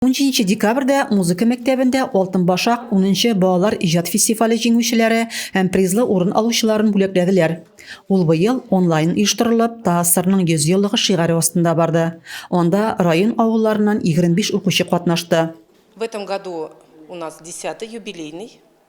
Унҗиденче декабрьдә музыка мәктәбендә Алтын башак унынчы балалар иҗат фестивале җиңүчеләре һәм призлы урын алучыларын бүләкләделәр. Ул быел онлайн оештырылып, ТАССРның 100 еллыгы шигаре астында барды. Анда район авылларыннан 25 укучы катнашты. В этом году у нас десятый юбилейный.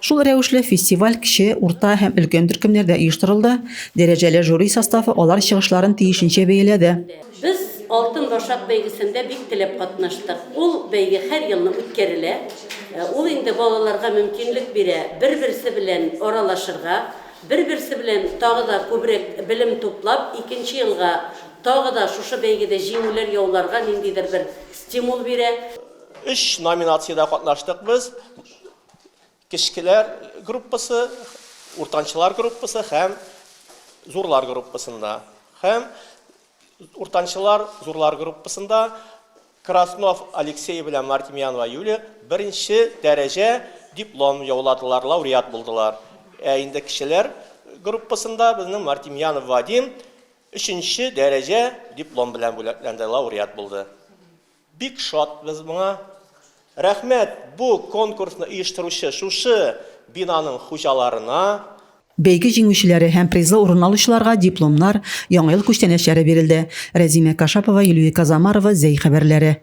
Шул рәвешле фестиваль кече, урта һәм өлкән төркемнәрдә оештырылды, дәрәҗәле жюри составы алар чыгышларын тиешенчә бәяләде. Без Алтын башак бәйгесендә бик теләп катнаштык. Ул бәйге һәр елны үткәрелә. Ул инде балаларга мөмкинлек бирә бер-берсе белән аралашырга, бер-берсе белән тагы да күбрәк белем туплап, икенче елга тагы да шушы бәйгедә җиңүләр яуларга ниндидер бер стимул бирә. Өч номинациядә катнаштык без. Кечкеләр группасы, уртанчылар группасы һәм зурлар группасында. Һәм уртанчылар, зурлар группасында Краснов Алексей белән Мартемьянова Юлия беренче дәрәҗә диплом яуладылар, лауреат булдылар. Ә инде кечеләр группасында безнең Мартемьянов Вадим өченче дәрәҗә диплом белән бүләкләнде, лауреат булды. Бик шатбыз моңа. Рәхмәт бу конкурсны оештыручы шушы бинаның хуҗаларына. Бәйге җиңүчеләре һәм призлы урын алучыларга дипломнар, Яңа ел күчтәнәчләре бирелде. Рәзимә Кашапова, Илюи Казамарова, Зәй хәбәрләре.